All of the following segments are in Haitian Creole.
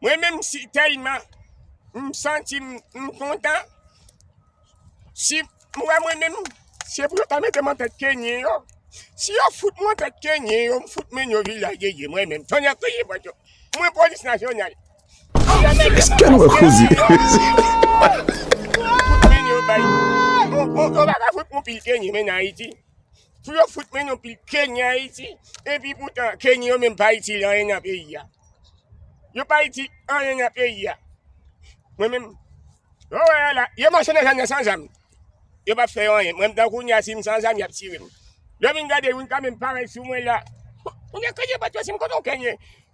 Mwen menm si telman m santi m kontan si m wè mwen menm se pou yo ta mete m an tèt kenyen yo si yo fout mwen an tèt kenyen yo m fout men yo vil la gege mwen menm tonnè kriye bwa cho mwen polis nasyonal Eske'n wè kouzi? Yo pa ka fout moun pil kenyen menm nan Ayiti. Pou yo fout men yon pil Kenyan Ayiti, epi poutan Kenyan yo menm pa itil anyen nan peyi a. Yo pa itil anyen nan peyi a. Mwen menm, yo wè yo la, yo mache nan zòn nan san zam. Yo pa fè yo anyen. Mwen menm kounye a si m san zam y ap tire m. Lè m vin gade youn kanmenm parèy sou mwen la, m di kote yo pa t pase m, kote yon Kenyen?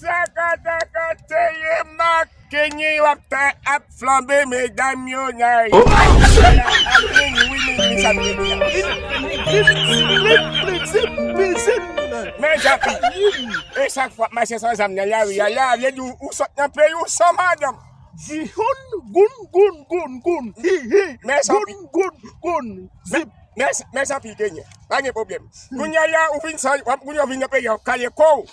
Sakataka teye mak kenye yo ap ta ap flanbe medam yo na yo Men japi E sak fwa mache san zam nan la ri a la vle di ou sot nan peyi ou san madanm Di houn goun goun goun goun hi hi goun goun goun zip Mès anpil Kenyen, pa gen pwoblèm. Kounye a la ou vin san, wap kounye ou vin nan peyi a, wap kale kò ou.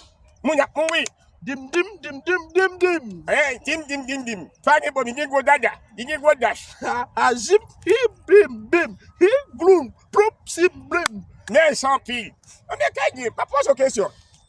Moun ap mouri. Dim dim dim dim dim dim. Hey, dim dim dim dim. Pa gen pwoblèm, li gen gwo dada, li gen gwo dach. Ha ha zip hi bim bim hi gloum ploup sim blim. Mès anpil. Anmèkè gen, pa poze w kesyon.